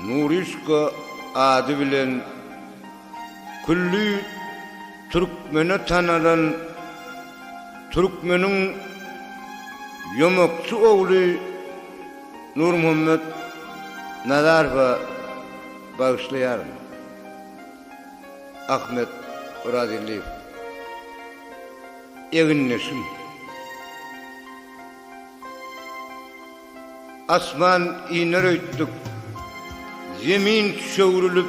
Nurişka ady bilen külli türkmene tanalan türkmeniň ýomakçy ogly Nurmuhammet Nazarowa bagyşlaýaryn. Ahmet Orazgeldiýew. Egindeşim. Asman iner öýtdük. Zemin tüşewrilip.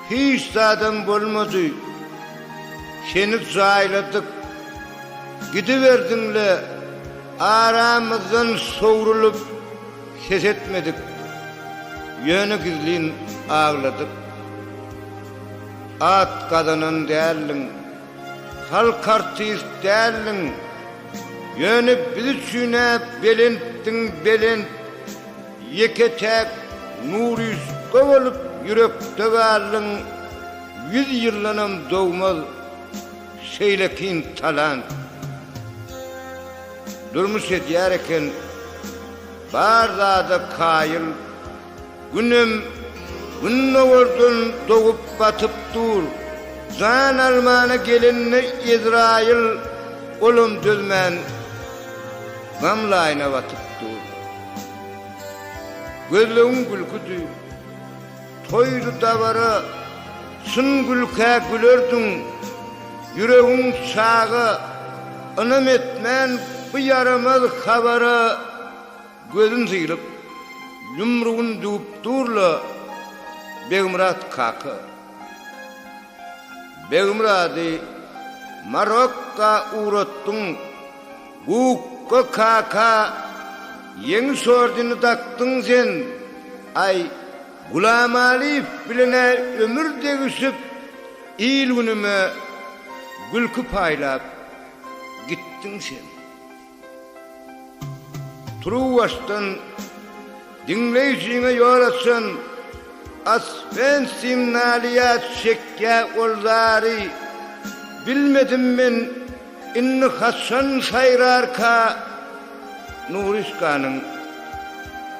Hiç zadam bolmady. Seni jaýladyk. Gidiberdiň-le. Aramyzdan sowrulyp ses etmedik. Ýöne gizlin agladyk. At gazanan däldiň. Halk artist däldiň, ýöne biz üçin-ä belentdiň belent, ýeke-täk Nuryşka bolup ýürekde galdyň, ýüz ýyldanam dogmaz şeýlekin talant. Durmuş edýär eken bar zada kaýyl. Günem gündogardan dogup batyp dur. Jan almana gelende Ezraýyl olam dözmän gam laýyna batyp dur. Gözlegiň gülküdi, toýdy dabara, çyn gülkä gülerdiň. Ýüregiň çaga, ynam etmän bu ýaramaz habara. Gözün sylyp, ýumrugyn düwüp dur-la, Begmyrat kaka! Begmyrady Marokka ugratdyň, Gukga kaka Ýeňiş ordeni dakdyň sen! Aý, Gulamalyýew bilen-ä ömür degişip, il-günüme gülki paýlap gitdiň sen! Turuwbaşdan diňleýjiňe ýol açan Osfensim nalýat çekýä ol zary Bilmedim men indi haçan saýrarka Nuryşkanyň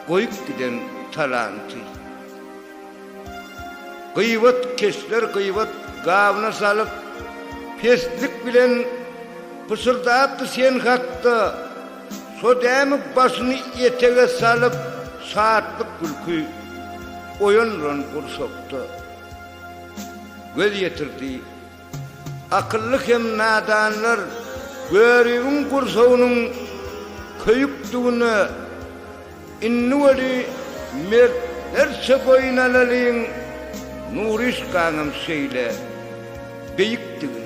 goýup giden talanty. Gybat keşler gybat gabna salyp, peslik bilen pyşyrdapdy sen hakda, şo dämi başyny etege salyp, şatlyk gülki oýandyran gursakda. Göz ýetirdi. Akylly hem nadanlar Görübiň gursagynyň köýükdigine Indi weli mertlerçe boýun alalyň Nuryşkaňam şeýle beýikdigine.